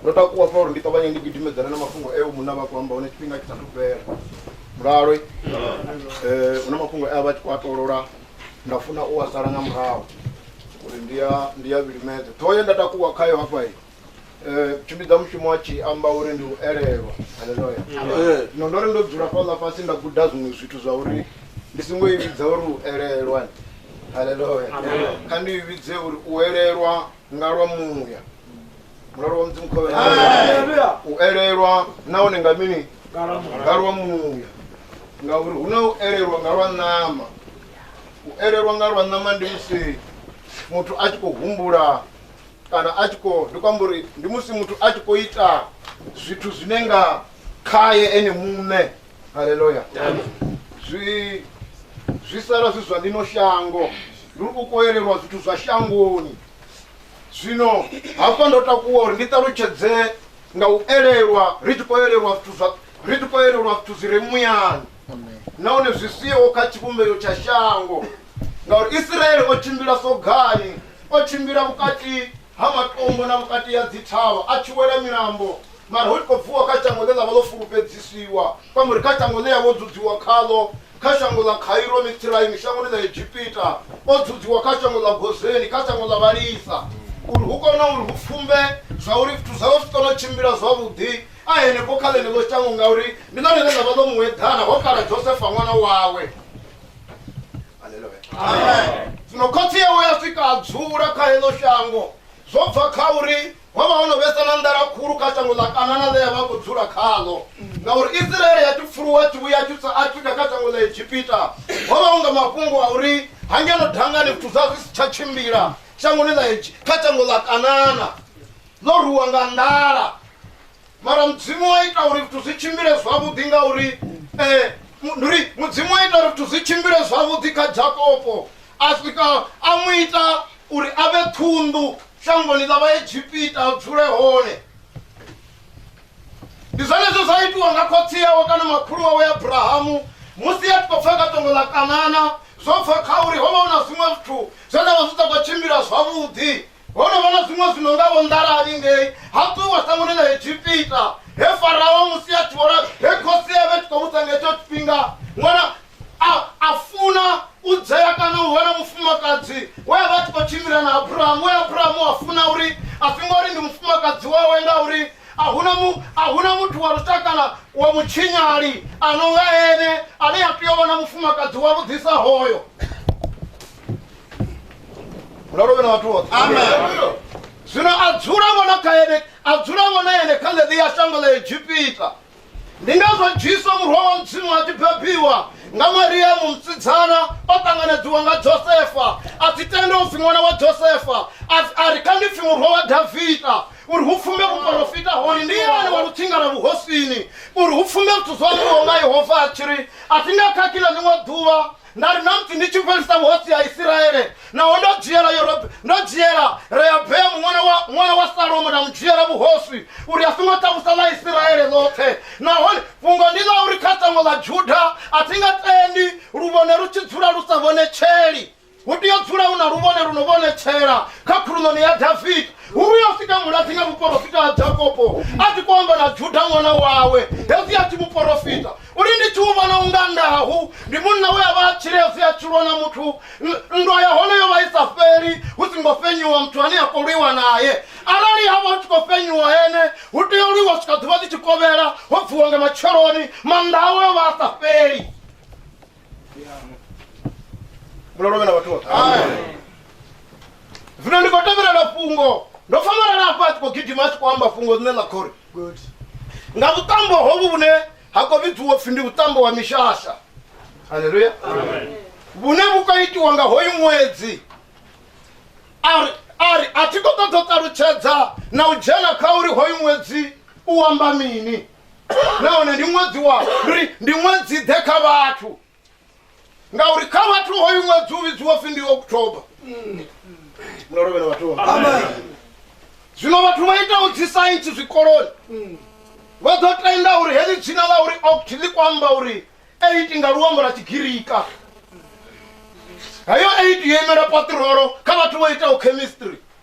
Ndo takuwa pfa uri ndi ṱavhanye ndi gidimedzane na mafhungo e munna vha khou amba hone tshifhinga tshi sathu fhela mulalo um eh, huna mafhungo e a vha tshi khou a tolola nda funa u a sala nga murahu uri ndi ya ndi ya vhilimedze ṱhoho ye nda takuwa khayo hafha um eh, tshimbidza mushumo a tshi amba uri ndi u elelwa haleloya zwino ndo ri ndo dzula fhaḽa fhasi nda guda zwiṅwe zwithu zwa uri ndi songo i vhidza uri u elelwa haleloya kha ndi i vhidze uri u elelwa nga lwa muya mulalo wa mudzimu khovhe u elelwa nahone nga mini nga lwa muya ngauri hu na u elelwa nga lwa ṋama u elelwa nga lwa ṋama ndi musi muthu a tshi khou humbula kana a tshi khou ndi kwamba uri ndi musi muthu a tshi khou ita zwithu zwine nga khaye ene muṋe haleluya zwi zwi sala zwi zwa ḽino shango ndi u koelelwa zwithu zwa shangoni zwino hafha ndo takuwa uri ndi ṱalutshedze nga u elelwa ri tshi koelelwa zwithu zwa ri tshi koelelwa zwithu zwi re muyani nahone zwi siho kha tshivhumbeo tsha shango ngauri isiraele o tshimbila sogani o tshimbila vhukati ha matombo na vhukati ha dzithavha a tshi wela milambo mara hu tshi khou bvuwa kha shango ḽe ḽa vha ḽo fulufhedzisiwa kwamba uri kha shango ḽe ya vho dzudziwa khaḽo kha shango ḽa khairo mitsiraimi shangoni ḽa egipita o dzudziwa kha shango ḽa gozeni kha shango ḽa vhalisa uri hu kone uri hu pfumbe zwa uri zwithu zwawe zwi kone u tshimbila zwavhuḓi a henefho kha ḽeneḽo shango ngauri ndi ḽone ḽe ḽa vha ḽo mueḓana ho kala josefa ṅwana wawe aleluya zwino khotsi yawe ya swika a dzula kha heḽo shango zwo bva kha uri ho vha ho no vhesa na nḓala khulu kha shango ḽa kanana ḽe ya vha khou dzula khaḽo ngauri isiraele ya tshipfuluwa tshi vhuya tshisa a tshika kha shango ḽa egipita ho vha hu nga mafhungo a uri hangeno dangani zwithu zwa zwi si tsha tshimbila shangoni ḽa kha shango ḽa kanana ḽo ruwa nga nḓala mara mudzimu wa ita uri zwithu zwi tshimbile zwavhuḓi ngauri eh, mu- ndi uri mudzimu wa ita uri zwithu zwi tshimbile zwavhuḓi kha jakopo a swika a mu ita uri a vhe ṱhunḓu shangoni ḽa vhaegipita a dzule hone ndi zwenezwo zwa itiwa nga khotsi yawe kana makhulu wawe abrahamu musi a tshi khou pfha katongo ḽa kanana zwo bva kha uri ho vha hu na zwiṅwe zwithu zwe nda vha zwi sa khou tshimbila zwavhuḓi Ho no vha na zwiṅwe zwi no nga vho nḓalali ngei ha ṱuwa sangoni ḽa egipita he farao musi a tshi vhona he khosi ya vhe tshi khou vhusa nga hetsho tshifhinga ṅwana a a funa u dzhea kana u vha na mufumakadzi we a vha a tshi khou tshimbila na abrahamu we abrahamu a funa uri a si ngori ndi mufumakadzi wawe ngauri a huna mu a huna muthu wa lushakana wa mutshinyali a no nga ene ane a tea u vha na mufumakadzi wa vhuḓisa hoyo ralo vhe na vhathu vhoṱhe amen zwino a dzula vhona kha ene a dzula vhona ene kha ḽeḓi ya shango ḽa egipita ndi ngazwo jesu murwa wa mudzimu a tshi bebiwa nga mariamu musidzana o ṱanganedziwa nga josefa a si tende u pfi ṅwana wa josefa a ri kha ndi pfi murwa wa davida uri hu pfumbe vhuporofita hone ndi yone wa lutsinga lwa vhuhosini uri hu pfumbe zwithu zwo ambiwaho nga yehova a tshi ri a thi nga khakhila ḽiṅwe ḓuvha nda ri na mpfi ndi tshi fhelisa vhuhotsi ha isiraele naho ndo dzhiela Yorob- ndo dzhiela rehabeamu ṅwana wa ṅwana wa salomo nda mu dzhiela vhuhosi uri a songo takusa ḽa isiraele ḽoṱhe nahone fhungo ndi ḽa uri kha shango ḽa juda a thi nga tendi luvhone lu tshi dzula lu sa vhonetsheli hu tea u dzula hu na luvhone lu no vhonetshela kha khuluṋoni ya davida uri yo sika muladzi nga muporofita ha jakopo a tshi khou amba na juda ṅwana wawe hezwi a tshi muporofita uri ndi tshi u vhona unga ndahu ndi munna we a vha a tshile a si a tshulwa na muthu N- nndwa ya hone yo vha i sa fheli hu si ngo fenyiwa muthu ane a khou lwiwa naye arali ha vha hu tshi khou fenyiwa ene hu tea u lwiwa swika ḓuvha ḽi tshi kovhela ho bviwa nga matsheloni mannda awe o vha a sa fheli mulalo vhena vhathu vhoṱhe zwino ndi khou tevhelela fhungo ndo famalala hafha a tshi khou gidima a tshi khou amba fhungo ḽine ḽa khori nga vhuṱambo hovhu vhune ha khou vhidziwa pfhi ndi vhuṱambo wa mishasha halleluya vhune vhu khou itiwa nga hoyu ṅwedzi ari ari a thi khou ṱoḓa u ṱalutshedza na u dzhena kha uri hoyu ṅwedzi u amba mini nahone ndi ṅwedzi wa ndi uri ndi ṅwedzi ḓe kha vhathu ngauri kha vhathu hoyu ṅwedzi u vhidziwa pfi ndi october muno lovhela vhathu vha- zwino vhathu vha itaho dzi saintsi zwikoloni vha ḓo tenda uri heḽi dzina ḽa uri oct ḽi kho amba uri eight nga luambo lwa tshigirika heyo eight yo imela patirolo kha vhathu vho itaho chemistry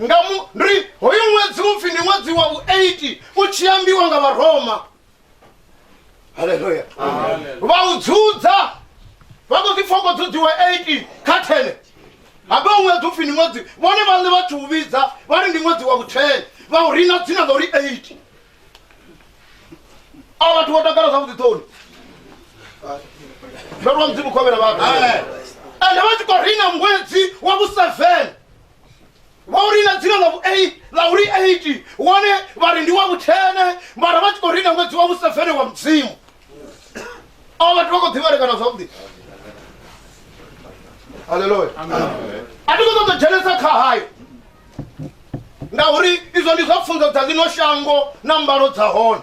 nga mu ri hoyu ṅwedzi upfhi ndi ṅwedzi wa vhu 8 u tshi ambiwa nga vharoma haleluya vha u dzudza vha ḓo ḓi fhoko dzudziwa 8 kha 10 habe u ṅwedzi upfhi ndi ṅwedzi vhone vhaṋe vha tshi u vhidza vha ri ndi ṅwedzi wa vhu 10 vha u rina dzina ḽa uri 8 a vhathu vho takala zwavhuḓi ṱoni ndo lwa mudzimu khovhela vhathu ende vha tshi khou rina ṅwedzi wa vhu 7 vha u rina dzina ḽa vhu-8 ḽa uri 8 wone vha ri ndi wa vhuthene mara vha tshi khou rina ṅwedzi wa vhusevene wa mudzimu avho vhathu vha khou ḓivhalekana zwavhuḓi halleluya a thi khou ṱoḓa dzhenesa kha hayo ngauri izwo ndi zwa pfunzo dza ḽino shango na mbalo dza hone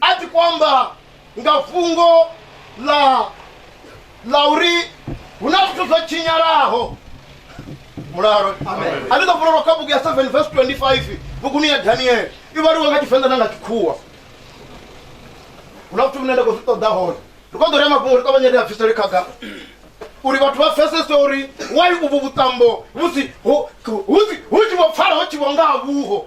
ati kwamba nga fungo la la uri huna zwithu zwo tshinyalaho mulalo a ndi ḓo vulelwa kha bugu ya 7 verse 25 buguni ya daniele i vhaliwa nga tshivenḓa na nga tshikhuwa huna zwithu vhune nda khou zwi ṱoḓa hone ri kho ḓo rea mafhungo ri ṱavhanye ri a bvisele khagala uri vhathu vha pfesese uri wai uvhu vhuṱambo musi hu hu- hu tshi vho pfala ho tshi vho nga ha vhuho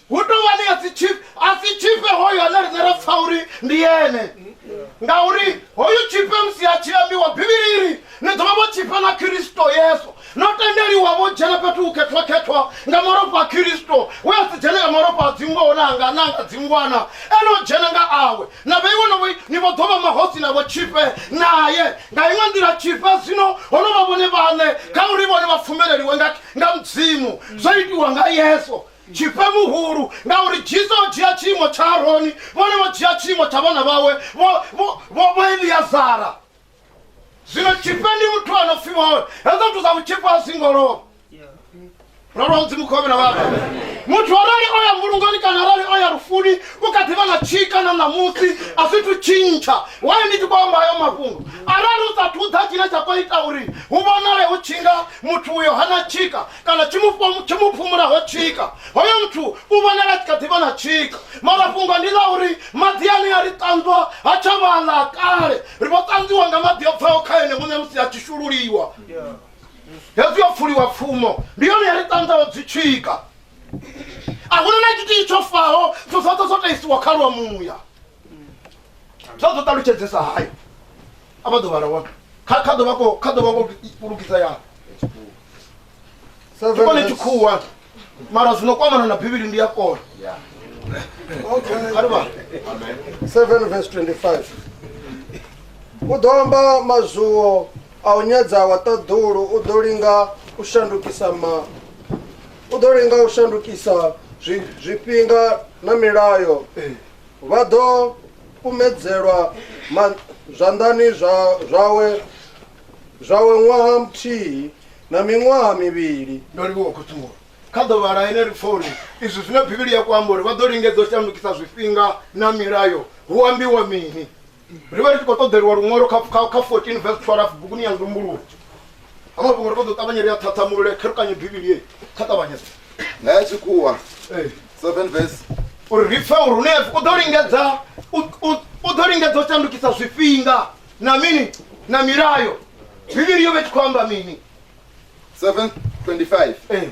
Hu tou vha ni a si tshifhe, a si tshifhe hoyo ane riṋe ra pfa uri ndi ene. Ngauri hoyu tshifhe musi a tshi ambiwa Bivhilini, ni ḓo vha vho tshifha na Khristo Yesu, no tendeliwa vho dzhena fhethu hu khethwa-khethwa nga malofha a Khristo, we a si dzhene nga malofha a dzingoho na anga na anga dzingwana, e no dzhena nga awe. Na vheiwa no vhoi, ni vho ḓo vha mahosi na vhotshifhe nae. Nga iṅwe nḓila, tshifhe zwino ho no vha vhone vhaṋe kha uri vhone vha pfumeleliwe nga nga Mudzimu, zwo itiwa nga Yesu. Tshifhe muhulu, ngauri Jesu o dzhia tshiimo tsha Aroni, vhone vho dzhia tshiimo tsha vhana vhawe vho, vho, vho, vho Eliazara. Zwino tshifhe ndi muthu a no pfi vhone, hezwo zwithu zwa vhutshifhe a zwi ngo lovha. Ro lwa Mudzimu khou vhona vhana. Muthu arali o ya mbulungoni kana arali o ya lufuni, u kha ḓi vha na tshika na ṋamusi, a zwi thu tshintsha. Wayo ndi tshi khou amba hayo mafhungo, arali u sa thu ḓa tshine tsha khou ita uri hu vhonale hu tshi nga muthu uyo hana tshika, kana tsho mu phumulaho tshika hoyo muthu u vhonala tshi kha ḓivha na tshika mara fhungo ndi ḽa uri maḓi ane a ri ṱanzwa ha tsha vhaḽa kale ri vho ṱanzwiwa nga maḓi o bvaho kha ene muṋe musi a tshi shululiwa hezwi yo pfuliwa pfumo ndi yone ya ri ṱanzaho dzi tshika a huna na tshithihi tsho faho zwo zwoṱhe zwo taisiwa kha lwa muya zwa zwo ṱalutshedzesa hayo a vha ḓo vhala wa kha kha ḓo vha ko kha ḓo vha ko lugisa ya ndi kone tshikhuwa mara zwino kwamana na bivhili ndi ya kona Okay. a ri vhala 7 verse 25 u ḓo amba mazwuwo a u nyadza wa ṱaḓulu u ḓo linga u shandukisa ma u ḓo linga u shandukisa zwi- zwifhinga na milayo Vha ḓo kumedzelwa ma, zwanḓani zwa, zwawe zwawe ṅwaha muthihi na miṅwaha mivhili. Ndo livhuwa khuṱuwo kha ḓuvha ḽa ene ri pfa uri izwi zwine bivhili ya ku amba uri vha ḓo lingedza u shandukisa zwifhinga na milayo hu ambiwa mini. ri vha ri tshi khou ṱoḓeliwa luṅwalo kha 14 vs 12 buguni ya nzumbuluwo hama vhuṅwe ri ṱoḓa u ṱavhanye ri a ṱhaṱhamulule kherukanye bivhili ye kha ṱavhanyesa na ya tshikhuwa 7 vs uri ri pfe uri hune u ḓo lingedza u ḓo lingedza u shandukisa zwifhinga na mini na milayo bivhili yo vha i tshi khou amba mini 725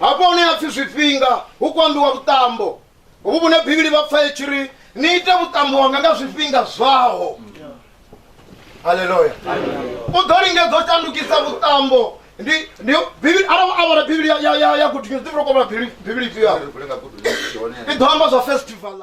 Hafha hune ha pfi zwifhinga hu khou ambiwa vhuṱambo hovhu vhune Bivhili vha pfa i tshi ri ni ite vhuṱambo wanga nga zwifhinga zwaho. Haleluya. U ḓo lingedza u shandukisa vhuṱambo ndi ndi Bivhili arali a vhala Bivhili ya ya ya ya gudu dzi vhuloko vhala Bivhili Bivhili ifhio? I ḓo amba zwa festival.